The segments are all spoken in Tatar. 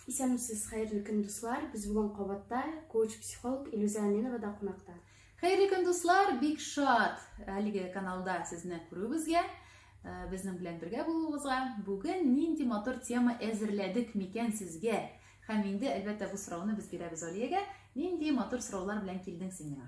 Исәнмесез, хәерле көн, дуслар! Без бүген кабатта коуч-психолог Илюзә Әминова да кунакта. Хәерле көн, дуслар! Бик шат әлеге каналда сезне күрүебезгә, э, безнең белән бергә булуыгызга. Бүген нинди матур тема әзерләдек микән сезгә? Һәм инде, әлбәттә, бу сорауны без бирәбез Алиягә. Нинди матур сораулар белән килдең син миңа?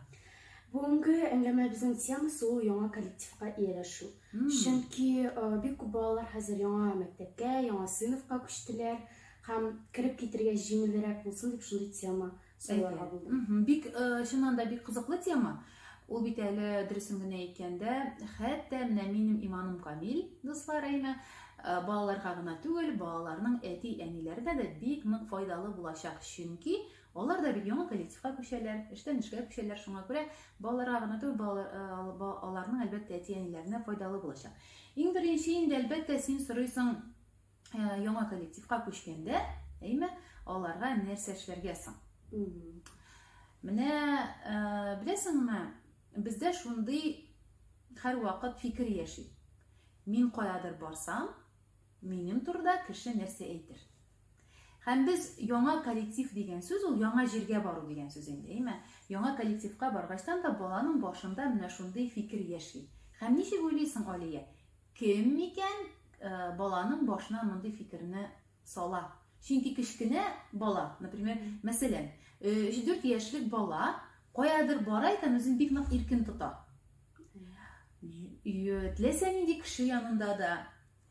Бүгенге әңгәмәбезнең темасы ул яңа коллективка ияләшү. Чөнки бик күп балалар хәзер яңа мәктәпкә, яңа сыйныфка күчтеләр һәм кереп китергә җиңелрәк булсын дип шундый тема сайларга булдым. Бик чыннан да бик кызыклы тема. Ул бит әле дөресен генә әйткәндә, хәтта менә минем иманым камил, дуслар әйме, балаларга гына түгел, балаларның әти-әниләренә дә бик нык файдалы булачак, чөнки Алар да бит яңа коллективка күчәләр, эштән эшкә күчәләр, шуңа күрә балаларга гына түгел, балалар, э, аларның әлбәттә әти-әниләренә файдалы булачак. Иң беренче инде әлбәттә син сорыйсың э, яңа коллективка күчкәндә, әйме, аларга нәрсә эшләргә соң? Менә э, беләсеңме, бездә шундый һәрвакыт фикер яши. Мин каядыр барсам, Минем турыда кеше нәрсә әйтер? Һәм без яңа коллектив дигән сүз ул яңа җиргә бару дигән сүз инде, әйме? Яңа коллективка баргачтан да баланың башында менә шундый фикер яши. Һәм ничек уйлыйсың, Алия? Кем микән э, баланың башына мондый фикерне сала? Чөнки кечкенә бала, например, мәсәлән, 3-4 э, яшьлек бала каядыр бара икән, үзен бик нык иркен тота. Теләсә нинди кеше янында да,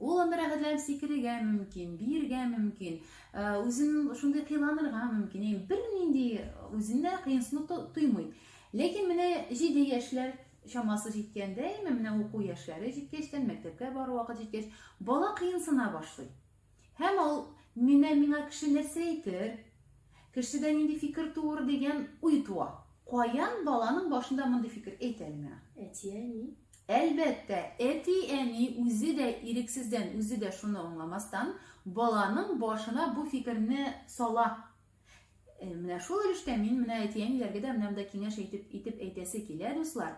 Ул анда рәхәтләнеп сикерергә мөмкин, биергә мөмкин, э, үзен шундый кыйланырга мөмкин. Яни бернинди үзенә кыенсынып тоймый. Ләкин менә 7 яшьләр чамасы җиткәндә, яме менә уку яшьләре җиткәчтән, мәктәпкә бару вакыт җиткәч, бала кыенсына башлый. Һәм ул менә миңа кеше нәрсә әйтер, кешедә нинди фикер туыр дигән уй туа. Каян баланың башында мондый фикер әйтә әле миңа? Әти-әни. Әлбәттә, әти-әни үзе дә ирексездән, үзе дә шуны аңламастан, баланың башына бу фикерне сала. Э, менә шул өлештә мин менә әти-әниләргә дә менә монда киңәш әйтеп итеп әйтәсе килә, дуслар.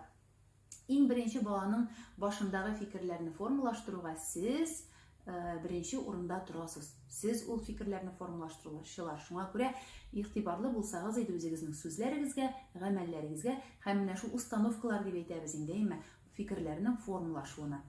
Иң беренче баланың башындагы фикерләрне формалаштыруга сез Э, беренче урында торасыз сез ул фикерләрне формалаштыручылар шуңа күрә игътибарлы булсагыз иде үзегезнең сүзләрегезгә гамәлләрегезгә һәм менә шул установкалар дип әйтәбез инде әйме фикерләрнең формалашуына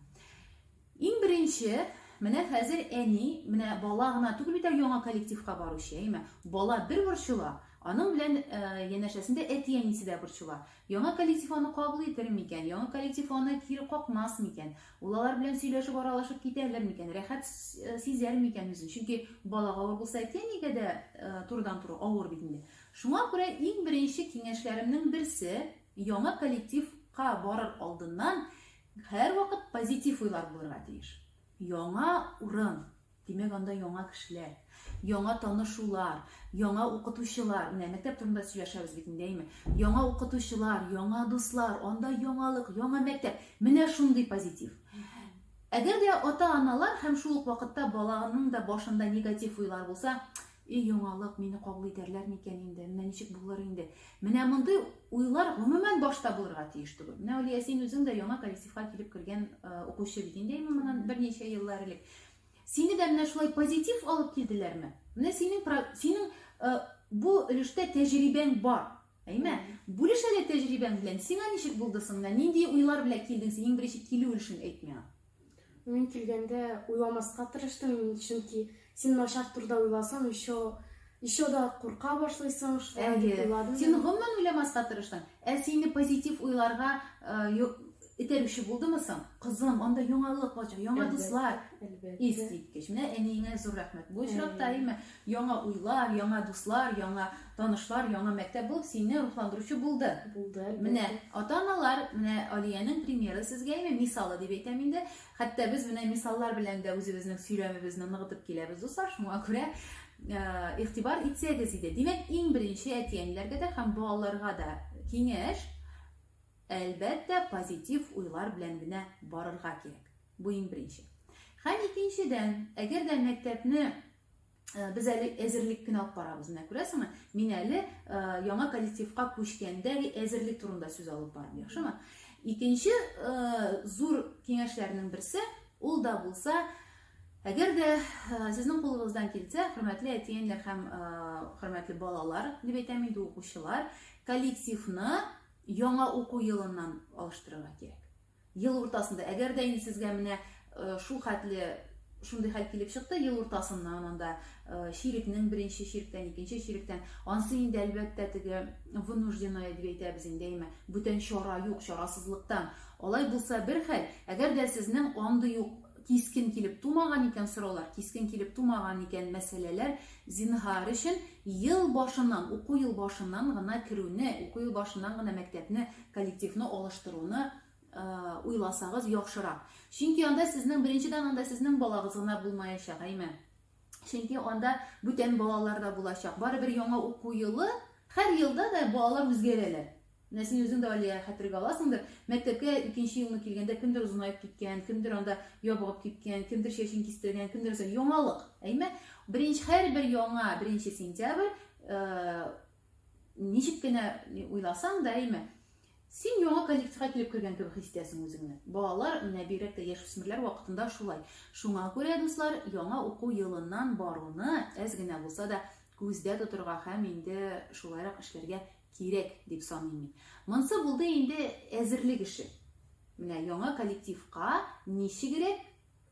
иң беренче менә хәзер әни менә бала гына түгел бит яңа коллективка баручы әйме бала бер борчыла аның белән ә, э, янәшәсендә әти әнисе дә борчыла яңа коллектив аны кабул итер микән яңа коллектив аны кире какмас микән Ул алар белән сөйләшеп аралашып китәлер микән, рәхәт сизәр микән үзен? Чөнки балага авыр булса, әтиәнигә дә турыдан туры авыр бит инде. Шуңа күрә иң беренче киңәшләремнең берсе, яңа коллективка барыр алдыннан һәрвакыт позитив уйлар булырга тиеш. Яңа урын, Димәк, анда яңа кешеләр, яңа танышулар, яңа укытучылар, менә мәктәп турында сөйләшәбез бит инде, әйме? Яңа укытучылар, яңа дуслар, анда яңалык, яңа мәктәп. Менә шундый позитив. Әгәр дә ата-аналар һәм шул ук вакытта баланың да башында негатив уйлар булса, И яңалык, мине кабул итәрләр микән инде, менә ничек булыр инде. Менә мондый уйлар гомумән башта булырга тиеш түгел. Менә Алия, син үзең дә яңа коллективка килеп кергән э, укучы бит инде, моннан берничә еллар элек. Сине дә менә шулай позитив алып килделәрме? Менә синең синең э, бу өлештә тәҗрибәң бар. Әйме? Бүлеш әле тәҗрибәң белән. Сиңа ничек булды соң? Менә нинди уйлар белән килдең син? Иң беренче килү өлешен әйт миңа. Мин килгәндә уйламаска тырыштым, чөнки син начар турда уйласаң, еще еще да курка башлыйсың, шулай дип уйладым. Син гомумән уйламаска тырыштың. Ә сине позитив уйларга итәрүче булдымы соң? Кызым, анда яңалык булачак, яңа дуслар. Искиткеч. Менә әниеңә зур рәхмәт. Бу очракта әйме? Яңа уйлар, яңа дуслар, яңа танышлар, яңа мәктәп булып сине рухландыручы булды. Булды. Менә ата-аналар, менә Алиянең примеры сезгә име, мисалы дип әйтәм инде. Хәтта без менә мисаллар белән дә үзебезнең сөйләмебезне ныгытып киләбез, дуслар. Шуңа күрә э, игътибар итсәгез иде. Димәк, иң беренче әти-әниләргә дә һәм балаларга да киңәш, әлбәттә, позитив уйлар белән генә барырга кирәк. Бу иң беренче. Һәм икенчедән, әгәр дә мәктәпне Э, без әле әзерлек кенә алып барабыз менә күрәсеңме мин әле э, яңа коллективка күчкәндәге әзерлек турында сүз алып барам яхшымы икенче э, зур киңәшләрнең берсе ул да булса әгәр дә сезнең кулыгыздан килсә хөрмәтле әтиәннәр һәм хөрмәтле балалар дип әйтәм инде укучылар коллективны яңа уку елыннан алыштырырга кирәк Ел уртасында, әгәр дә инде сезгә менә э, шул хәтле шундый хәл килеп чыкты ел уртасыннан анда э, чирекнең беренче чиректән икенче чиректән ансы инде әлбәттә теге вынужденное дип әйтәбез инде әйме бүтән чара юк чарасызлыктан алай булса бер хәл әгәр дә сезнең андый юк кискен килеп тумаган икән сораулар кискен килеп тумаган икән мәсьәләләр зинһар өчен ел башыннан уку ел башыннан гына керүне уку ел башыннан гына мәктәпне коллективны алыштыруны уйласагыз яхшырак чөнки анда сезнең беренчедән анда сезнең балагыз гына булмаячак әйме чөнки анда бүтән балалар да булачак барыбер яңа уку елы һәр елда да балалар үзгәрәләр менә син үзең дә алия хәтергә аласыңдыр мәктәпкә икенче елны килгәндә кемдер озынаеп киткән кемдер анда ябыгып киткән кемдер чәчен кистергән кемдер яңалык әйме беренче һәрбер яңа беренче сентябрь Ничек кенә уйласаң да, әйме, син яңа коллективка килеп кергән кебек хис итәсең үзеңне. Балалар, менә бигрәк тә яшүсмерләр вакытында шулай. Шуңа күрә, дуслар, яңа уку елыннан баруны әз генә булса да күздә тотырга һәм инде шулайрак эшләргә кирәк дип саныйм мин. Монсы булды инде әзерлек эше. Менә яңа коллективка ничегрәк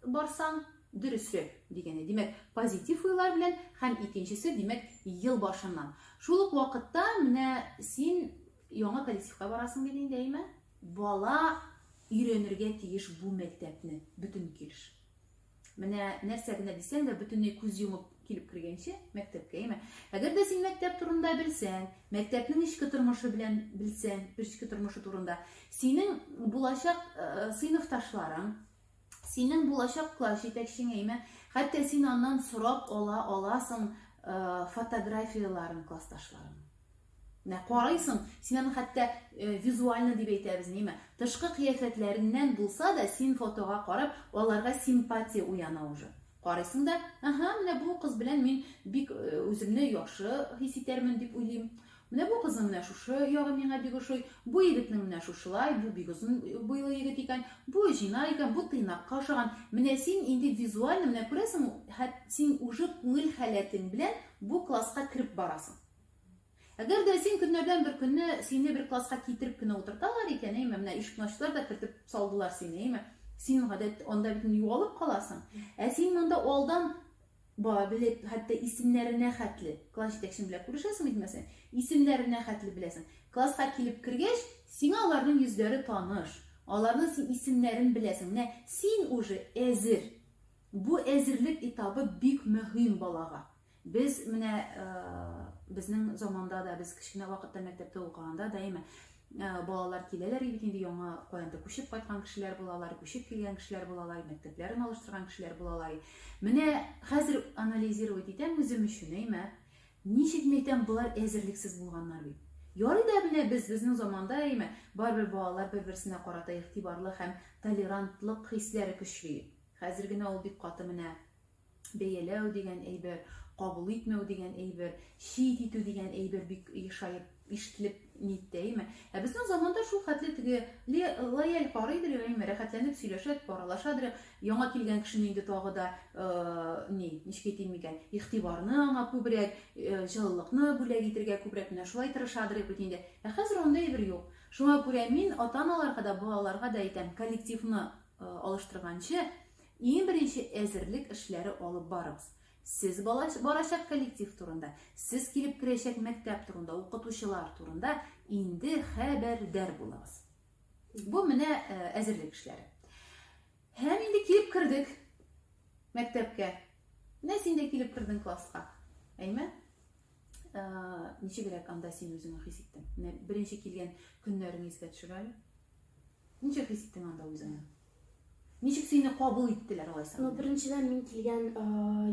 барсаң, дөресрәк дигәне. Димәк, позитив уйлар белән һәм икенчесе, димәк, ел башыннан. Шул ук вакытта менә син яңа коллективка барасың бит инде, әйме? Бала өйрәнергә тиеш бу мәктәпне, бөтен килеш. Менә нәрсә генә дисәң дә, бөтенләй күз йомып килеп кергәнче мәктәпкә, әйме? Әгәр дә син мәктәп турында белсәң, мәктәпнең эчке тормышы белән белсәң, эчке тормышы турында, синең булачак э, сыйныфташларың, Синең булачак класс җитәкчеңә имә, хәтта син аннан сорап ала аласың э, фотографияләрен классташларын. Менә карайсың, син аны хәтта э, визуально дип әйтәбез, ниме? Тышкы кыяфәтләреннән булса да, син фотога карап, аларга симпатия уяна уже. Карайсың да, ага, менә бу кыз белән мин бик э, үземне яхшы хис итәрмен дип уйлыйм. Менә бу кызның менә шушы ягы миңа бик ошый, бу егетнең менә шушылай, бу бик озын буйлы егет икән, бу җина икән, бу тыйнакка ошаган. Менә син инде визуально менә күрәсең, хәт син уже күңел халәтең белән бу класска кереп барасың. Әгәр дә син көннәрдән бер көнне сине бер класска китереп кенә утырталар икән, әйме, менә ишекне ачтылар да кертеп салдылар сине, әйме, син гадәт анда бит югалып каласың. Ә син монда алдан Ба, белеп, хәтта исемнәренә хәтле. Класс җитәкчең белән күрешәсең бит, мәсәлән, исемнәренә хәтле беләсең. Класска килеп кергәч, сиңа аларның йөзләре таныш. Аларның син исемнәрен беләсең. Менә син уже әзер. Бу әзерлек этабы бик мөһим балага. Без менә безнең заманда да, без кечкенә вакытта мәктәптә укыганда даимә Ә, балалар киләләр бит инде яңа каяндыр күчеп кайткан кешеләр булалар, күчеп килгән кешеләр булалар, мәктәпләрен алыштырган кешеләр булалар. Менә хәзер анализировать итәм үзем өчен, әйме? Ничек мәйтәм, болар әзерлексез булганнар бит. Ярый да менә без безнең заманда, әйме, барыбер балалар бер-берсенә карата игътибарлы һәм толерантлык хисләре көчле. Хәзер генә ул бик каты менә Бәяләү дигән әйбер, кабул итмәү дигән әйбер, чит итү дигән әйбер бик ешаеп ишетелеп ниттәйме? Ә безнең заманда шул хәтле теге лояль карыйдыр, яме рәхәтләнеп сөйләшәдер, паралашадыр. Яңа килгән кешене инде тагы да э, ни, ничек әйтим микән, игътибарны аңа күбрәк, э, җылылыкны бүләк итергә күбрәк менә шулай тырышадыр бит инде. Ә хәзер анда әйбер юк. Шуңа күрә мин ата-аналарга да, балаларга да әйтәм, коллективны э, алыштырганчы, Иң беренче әзерлек эшләре алып барыгыз. Сез бала барачак коллектив турында, сез килеп керәчәк мәктәп турында, укытучылар турында инде хәбәрдар булыгыз. Бу менә э, әзерлек эшләре. Һәм инде килеп кердек мәктәпкә. Менә син дә килеп кердең класска. Әйме? Э, ничегрәк анда син үзеңне хис иттең? Менә беренче килгән көннәреңне искә төшерәле. Ничек хис иттең анда үзеңне? Ничек сине кабул иттеләр алайса? Ну, беренчедән мин килгән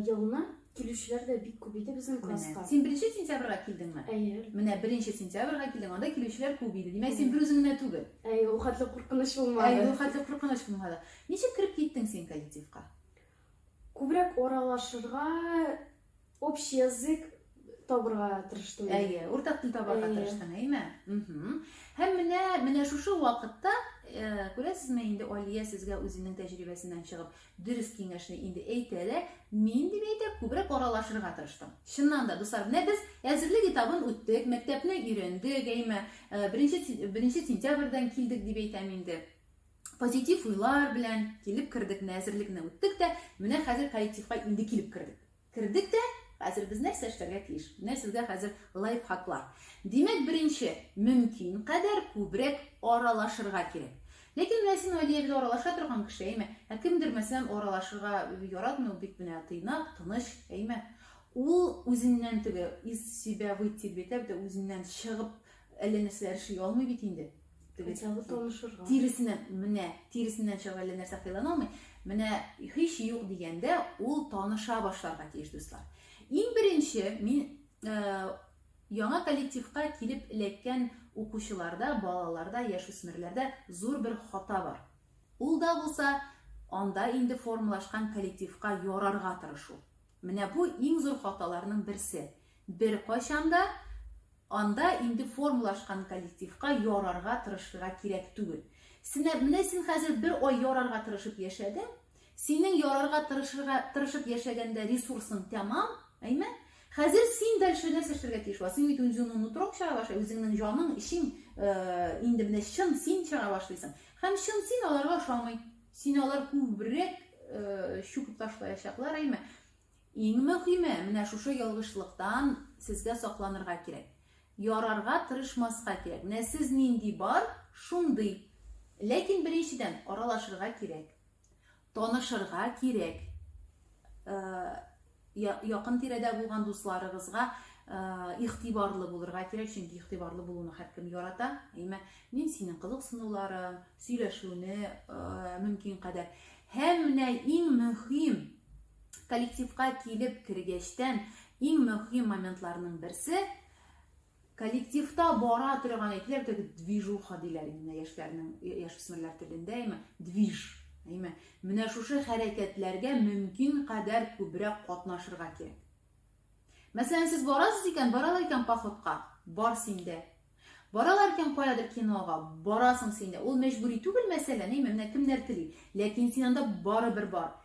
елны килүчеләр дә бик күп иде безнең класска. Син беренче сентябрьгә килдеңме? Әйе. Менә беренче сентябрьгә килдең, анда килүчеләр күп иде. Димәк, син бер үзең генә түгел. Әйе, ул хәтле куркыныч булмады. Әйе, ул хәтле куркыныч булмады. Ничек кереп киттең син коллективка? Күбрәк аралашырга общий язык табырга тырыштым. Әйе, уртак тел табарга тырыштың, әйме? Һәм менә менә шушы вакытта э, күрәсезме инде Алия сезгә үзенең тәҗрибәсеннән чыгып дөрес киңәшне инде әйтә дә, мин дип әйтә, күбрәк аралашырга тырыштым. Чыннан да, дуслар, менә без әзерлек этабын үттек, мәктәпне өйрәндек, әйме? Э, беренче беренче сентябрьдән килдек дип әйтәм инде. позитив уйлар белән килеп кердек, менә әзерлекне үттек тә, менә хәзер коллективка инде килеп кердек. Кердек тә, хәзер без нәрсә эшләргә тиеш? Менә сезгә хәзер лайфхаклар. Димәк, беренче, мөмкин кадәр күбрәк аралашырга кирәк. Ләкин менә син Алия бит аралаша торган кеше, әйме? Ә кемдер мәсәлән аралашырга яратмый, ул бит менә тыйнак, тыныч, әйме? Ул үзеннән теге из себя выйти дип әйтә, үзеннән чыгып әллә нәрсәләр эшли алмый бит инде. Кайчагы танышырга. Тиресеннән, менә, тиресеннән чыгып әллә нәрсә хыяллана алмый. Менә һич юк дигәндә ул таныша башларга тиеш, дуслар. Иң беренче мин э, яңа коллективка килеп эләккән укучыларда, балаларда, яшүсмерләрдә зур бер хата бар. Ул да булса, анда инде формалашкан коллективка ярарга тырышу. Менә бу иң зур хаталарның берсе. Беркайчан да анда инде формалашкан коллективка ярарга тырышырга кирәк түгел. Сенә, менә син хәзер бер ай ярарга тырышып яшәдең, синең ярарга тырышырга тырышып яшәгәндә ресурсың тәмам, әйме? Хәзер син дальше нәрсә эшләргә тиеш була? Син бит үзеңнең нутроң чыгара башлый, үзеңнең җаның, эчең э, инде менә чын син чыгара башлыйсың. Һәм чын син аларга ошамый. Син алар күбрәк чүкеп ташлаячаклар, әйме? Иң мөһиме, менә шушы ялгышлыктан сезгә сакланырга кирәк. Ярарга тырышмаска кирәк. Менә сез нинди бар, шундый. Ләкин беренчедән аралашырга кирәк. Танышырга кирәк. Э, Якын тирәдә булган дусларыгызга игътибарлы булырга кирәк, чөнки игътибарлы булуны һәркем ярата. Әйме, мин синең кызыксынуларың, сөйләшүне мөмкин кадәр. Һәм менә иң мөһим коллективка килеп кергәчтән иң мөһим моментларның берсе Коллективта бара торган әйтеләр теге движуха диләр инде яшьләрнең яшүсмерләр телендә әйме движ әйме менә шушы хәрәкәтләргә мөмкин кадәр күбрәк катнашырга кирәк мәсәлән сез барасыз икән баралар икән походка бар синдә баралар икән каядыр кинога барасың синдә ул мәҗбүри түгел мәсәлән әйме менә кемнәр тели ләкин син анда барыбер бар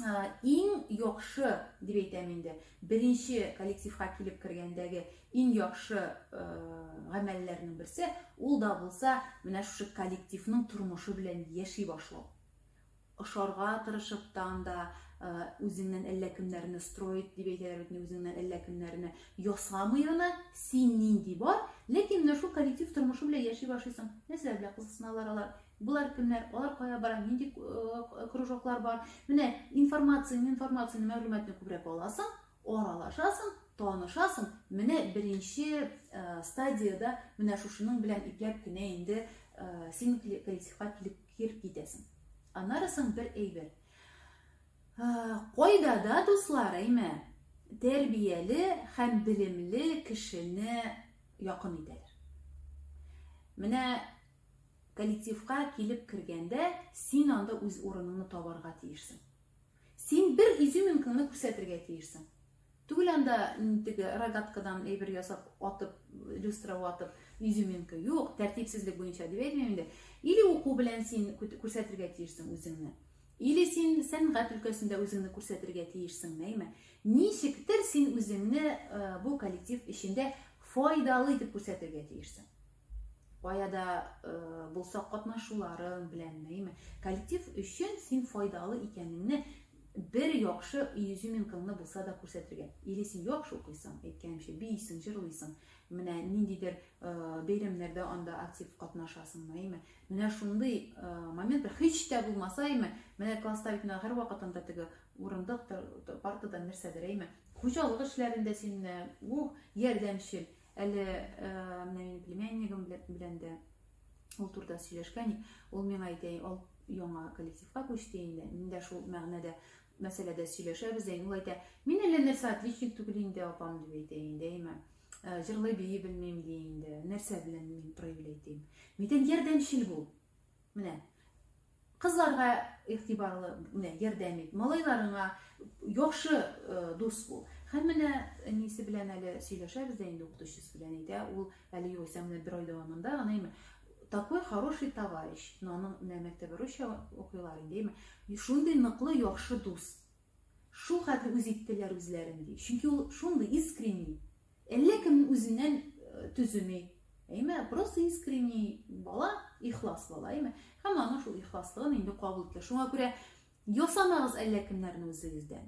иң яхшы дип әйтәм инде беренче коллективка килеп кергәндәге иң яхшы гамәлләрнең берсе ул да булса менә шушы коллективның тормышы белән яши башлау ошарга тырышып та анда үзеңнән әллә кемнәрне строить дип әйтәләр бит үзеңнән әллә кемнәрне ясамый гына син нинди бар ләкин менә шул коллектив тормышы белән яши башлыйсың нәрсәләр белән кызыксыналар алар Болар кемнәр, алар кая бара, нинди э, кружоклар бар. Менә информацияне, информацияне, мәгълүматны күбрәк аласың, аралашасың, танышасың. Менә беренче э, стадияда менә шушының белән ипләп кенә инде э, син коллективка килеп китәсең. Аннары соң бер әйбер. Кайда да дуслар, әйме, тәрбияле һәм белемле кешене якын итәләр. Менә Коллективка килеп кергәндә, син анда үз урыныңны табарга тиешсең. Син бер изюминкаңны күрсәтергә тиешсең. Түгел анда теге рогаткадан әйбер ясап, атып, люстра атып, изюминка. Юк, тәртипсезлек буенча дип әйтмим инде. Или уку белән син күрсәтергә тиешсең үзеңне. Или син сәнгать өлкәсендә үзеңне күрсәтергә тиешсең, нәйме? Ничектер син үзеңне э, бу коллектив эчендә файдалы итеп күрсәтергә тиешсең. баяда э, булса катнашуларың белән әйме коллектив өчен син файдалы икәнеңне бер яхшы изюминкаңны булса да күрсәтергә или син яхшы укыйсың әйткәнемчә биисең җырлыйсың менә ниндидер э, бәйрәмнәрдә анда актив катнашасың әйме менә шундый э, моментлар һич тә булмаса әйме менә класста бит менә һәрвакыт анда теге урындык партадан нәрсәдер әйме хуҗалык эшләрендә син ух ярдәмчел Әле э, менә минем племяннигым белән дә ул турыда сөйләшкән, ул миңа әйтә, ул яңа коллективка күчте инде. Мин дә шул мәгънәдә мәсьәләдә сөйләшәбез дә. Ул әйтә, мин әллә нәрсә отличник түгел инде, апам дип әйтә инде, әйме. Э, җырлый бии белмим ди инде. Нәрсә белән мин проявлять дим. Митен ярдәмчел бул. Менә кызларга игътибарлы, менә ярдәм ит, малайларыңа яхшы э, дус бул. Һәм менә әнисе белән әле сөйләшәбез дә инде укытучысы белән әйтә, ул әле югыйсә менә бер ай дәвамында гына име такой хороший товарищ, но аның менә мәктәбе русча укыйлар инде, име? Шундый ныклы яхшы дус. Шул хәтле үз иттеләр үзләрен ди. Чөнки ул шундый искренний. Әллә кем үзеннән төземи. Әйме, просто искренний бала, ихлас бала, әйме. Һәм аның шул ихласлыгын инде кабул итте. Шуңа күрә ясамагыз әллә кемнәрне үзегездән.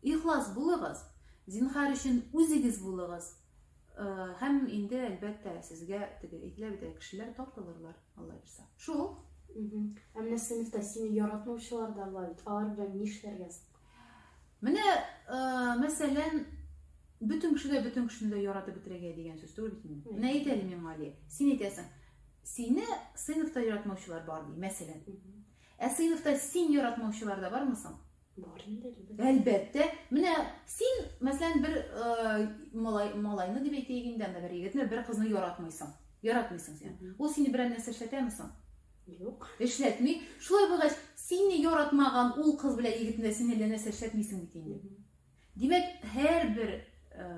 Ихлас булыгыз, зинхар өчен үзегез булыгыз. Һәм инде әлбәттә сезгә теге әйтелә бит, кешеләр тартылырлар, Алла бирсә. Шул. Ә менә сыйныфта сине яратмаучылар да бар бит. Алар белән нишләргә соң? Менә, э, мәсәлән, бөтен кеше дә бөтен кешене дә яратып бетерергә дигән сүз түгел бит инде. Менә әйт әле миңа, Алия, син әйтәсең, сине сыйныфта яратмаучылар бар ди, мәсәлән. Ә сыйныфта син яратмаучылар да бармы соң? Бар инде, әлбәттә. Әлбәттә. Менә син, мәсәлән, бер э, малай, малайны дип әйтәйек инде, анда бер егетне, бер кызны яратмыйсың. Яратмыйсың син. Ул сине берәр нәрсә эшләтәме соң? Юк, эшләтми. Шулай булгач, сине яратмаган ул кыз белән егетне син әллә нәрсә эшләтмисең бит инде. Димәк, һәрбер э,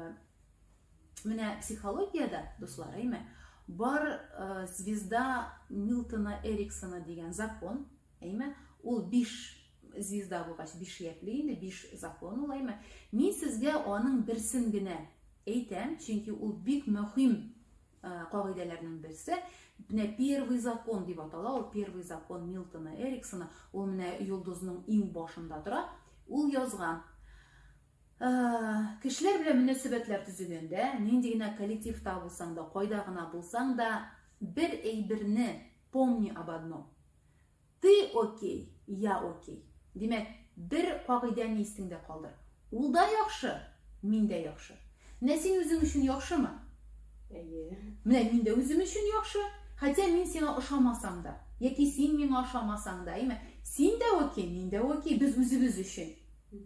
менә психологиядә, дуслар, әйме, бар э, звезда Милтона Эриксона дигән закон, әйме, ул биш звезда булгач биш якле инде биш закон ул әйме мин сезгә аның берсен генә әйтәм чөнки ул бик мөһим Э, кагыйдәләрнең берсе менә первый закон дип атала ул первый закон ньютона эриксона ул менә йолдызның иң башында тора ул язган э, кешеләр белән мөнәсәбәтләр төзегәндә нинди генә коллективта булсаң да кайда гына булсаң да бер әйберне помни об одном Ты окей, я окей. Димәк, бер кагыйдәне истеңдә калдыр. Ул да яхшы, мин дә яхшы. Менә син үзең өчен яхшымы? Әйе. Менә мин дә үзем өчен яхшы. Хотя мин сиңа ошамасам да, яки син миңа ошамасаң да, әйме? Син дә окей, мин дә окей, без үзебез өчен.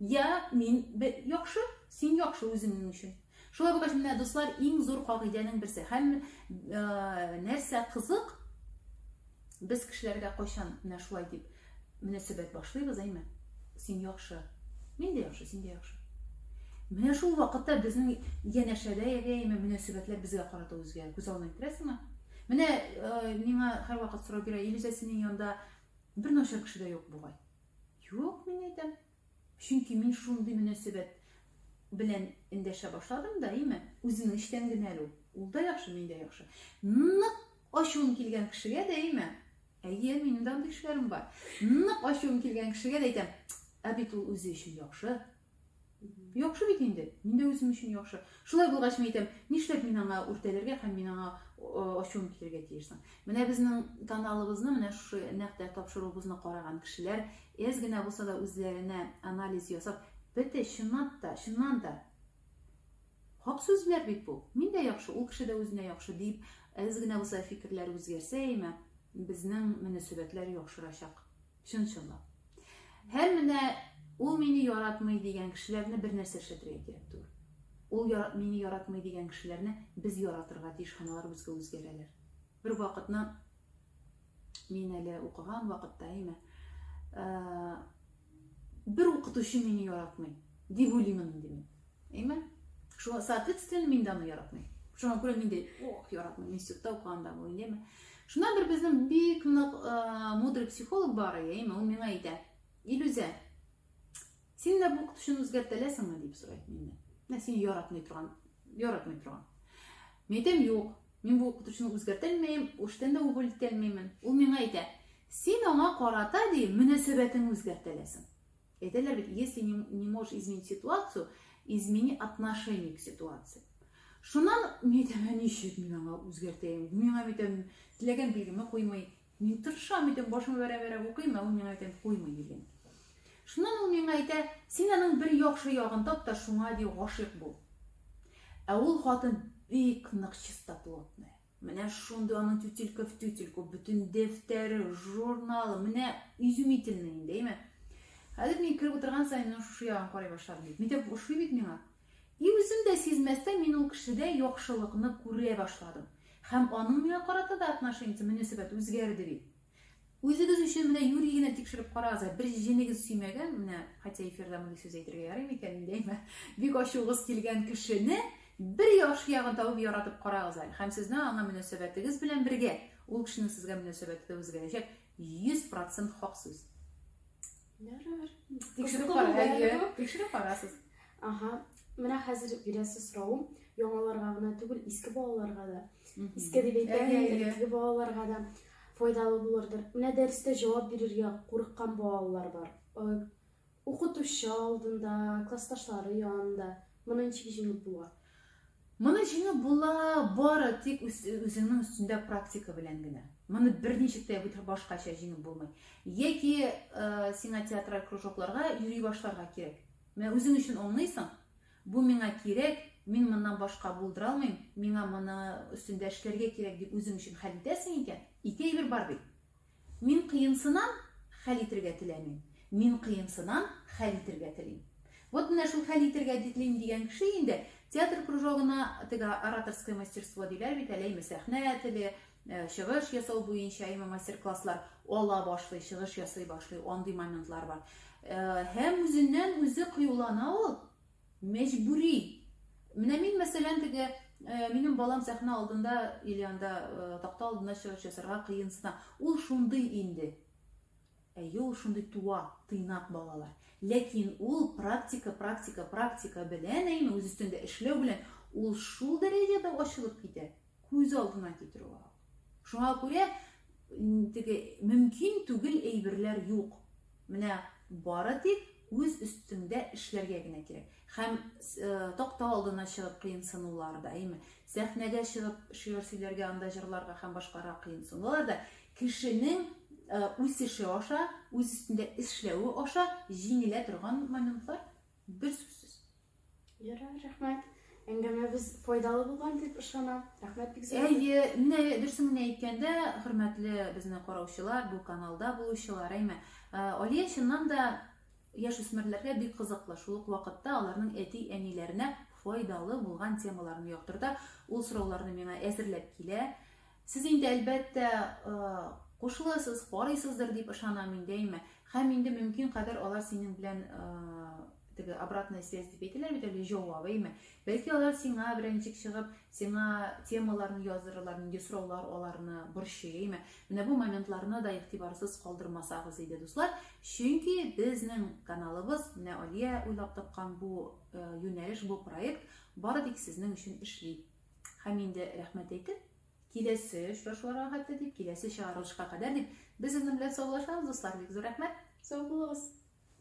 Я мин яхшы, син яхшы үзеңнең өчен. Шулай булгач, менә дуслар, иң зур кагыйдәнең берсе. Һәм нәрсә кызык, без кешеләргә кайчан менә шулай дип мөнәсәбәт башлыйбыз, әйме? Син яхшы. Мин дә яхшы, син дә яхшы. Менә шул вакытта безнең янәшәдә яшәйме мөнәсәбәтләр безгә карата үзгә күз алдына китерәсеңме? Менә э, миңа һәрвакыт сорау бирә, Илүзә синең янда бер начар кеше дә юк бугай. Юк, мин әйтәм. Чөнки мин шундый мөнәсәбәт белән эндәшә башладым да, әйме? Үземнең эчтән генә әле ул. Ул да яхшы, мин дә яхшы. Нык ачуым килгән кешегә дә, әйме? Әйе, минем дә андый кешеләрем бар. Нык ачуым килгән кешегә дә әйтәм, ә бит ул үзе өчен яхшы. Яхшы бит инде, мин дә үзем өчен яхшы. Шулай булгач, мин әйтәм, нишләп мин аңа үртәлергә һәм мин аңа ачуым килергә тиеш соң? Менә безнең каналыбызны, менә шушы нәкъ тә тапшыруыбызны караган кешеләр Әз генә булса да үзләренә анализ ясап, бете чынлап та, чыннан да Хак сүзләр бит бу. Мин дә яхшы, ул кеше дә үзенә яхшы дип, әз генә булса фикерләр үзгәрсә, әйме, безнең мөнәсәбәтләр яхшырачак. Чын-чынлап. Һәм менә ул мине яратмый дигән кешеләрне бер нәрсә эшләтергә кирәк түгел. Ул яр, мине яратмый дигән кешеләрне без яратырга тиеш, һәм алар безгә үзгәрәләр. Бер вакытны Мин әле укыган вакытта әйме. Бер укытучы мине яратмый, дип уйлыймын инде мин. Әйме? Шуңа соответственно мин дә аны яратмыйм. Шуңа күрә мин дә ох, яратмыйм институтта укыганда бу, әйме? Шунда бер безнең бик нык мудрый психолог бар, әйме, ул миңа әйтә. Илүзә, Син дә бу укытучыны үзгәртәләсеңме дип сорый миннән. Менә син яратмый торган, яратмый торган. Мин әйтәм, юк, мин бу укытучыны үзгәртә алмыйм, эштән дә уволить итә алмыймын. Ул миңа әйтә, син аңа карата ди мөнәсәбәтең үзгәртәләсең. Әйтәләр бит, если не, не можешь изменить ситуацию, измени отношение к ситуации. Шуннан мин әйтәм, ничек мин аңа үзгәртәйм? Миңа әйтәм, теләгән билгеме куймый, Мин тырышам, әйтәм, башыма бәрә-бәрә укыйм, ә ул миңа әйтәм, куймый дигән. Шуннан ул миңа әйтә, син аның бер яхшы ягын тап та шуңа ди гашыйк бул. Ә ул хатын бик нык чистоплотная. Менә шундый аның тютелька в тютельку, бөтен дәфтәре, журналы, менә изумительный инде, әйме. Хәзер мин кереп утырган сайын, ну шушы ягын карый башладым бит. Митәп ошый бит миңа. И үзем дә сизмәстән мин ул кешедә яхшылыкны күрә башладым. Һәм аның миңа карата да отношениесе, мөнәсәбәте үзгәрде бит. Үзегез өчен менә юри генә тикшереп карагыз, ә бер җенегез сөймәгән, менә, хотя эфирда мондый сүз әйтергә ярый микән инде, әйме, бик ачуыгыз килгән кешене бер яхшы ягын табып яратып карагыз әле. Һәм сезнең аңа мөнәсәбәтегез белән бергә ул кешенең сезгә мөнәсәбәте дә үзгәрәчәк. 100% хак сүз. Ярар. Тикшереп Кызыклы кара, булды әле әйе. бу. Тикшереп карасыз. Ага. Менә хәзер бирәсе соравым яңаларга гына түгел, иске балаларга да. Мгм. Иске дип әйтәм, Әйе, әйе. элекке балаларга да файдалы булырдыр. Менә дәрестә җавап бирергә курыккан балалар бар. Э, Укытучы алдында, классташлары янында. Моны ничек җиңеп була? Моны җиңеп була бары тик үзеңнең өстендә практика белән генә. Моны берничек тә башкача җиңеп булмый. Яки э, сиңа театраль кружокларга йөри башларга кирәк. Менә үзең өчен аңлыйсың, бу миңа кирәк, мин моннан башка булдыра алмыйм, миңа моны өстендә эшләргә кирәк дип үзең өчен хәл итәсең икән, ике әйбер бар бит. Мин кыенсынам, хәл итергә теләмим. Мин кыенсынам, хәл итергә телим. Вот менә шул хәл итергә дитлим дигән кеше инде театр кружогына теге ораторское мастерство диләр бит әле име сәхнә теле, э, чыгыш ясау буенча име мастер-класслар ала башлый, чыгыш ясый башлый, андый моментлар бар. Э, һәм үзеннән үзе кыюлана ул. Мәҗбүри. Менә мин, мәсәлән, теге Э, минем балам сәхнә алдында или анда э, такта алдына чыгыш ясарга кыенсына ул шундый инде әйе ул шундый туа тыйнак балалар ләкин ул практика практика практика белән әйме үз өстендә эшләү белән ул шул дәрәҗәдә ачылып китә Күз алдына китерү ак. Шуңа күрә теге мөмкин түгел әйберләр юк. Менә бары тик үз өстеңдә эшләргә генә кирәк. Һәм э, такта алдына чыгып кыенсынулар да, әйме, сәхнәгә чыгып шигырь сөйләргә, анда җырларга һәм башкара кыенсынулар да кешенең э, үсеше аша, үз өстендә эшләве аша җиңелә торган моментлар. Бер сүзсез. Ярар, рәхмәт. Әңгәмәбез файдалы булган дип ышанам. Рәхмәт бик зур. Әйе, менә дөресен генә әйткәндә, хөрмәтле безне караучылар, бу каналда булучылар, әйме. Э, Алия чыннан да яшь үсмерләргә бик кызыклы. Шул ук вакытта аларның әти-әниләренә файдалы булган темаларын яктырта. Ул сорауларны миңа әзерләп килә. Сез инде, әлбәттә, кушыласыз, карыйсыздыр дип ышанам мин дәйме. Һәм инде мөмкин кадәр алар синең белән теге обратная связь дип әйтәләр бит әле җавап әйме бәлки алар сиңа берәнчек чыгып сиңа темаларны яздырырлар нинди сораулар аларны борчый әйме менә бу моментларны да игътибарсыз калдырмасагыз иде дуслар чөнки безнең каналыбыз менә алия уйлап тапкан бу э, юнәлеш бу проект бары тик сезнең өчен эшли Һәм инде рәхмәт әйтеп, киләсе очрашуларга хәтле дип, киләсе чыгарылышка кадәр дип, без сезнең белән саубуллашабыз, дуслар. Бик зур рәхмәт, сау булыгыз!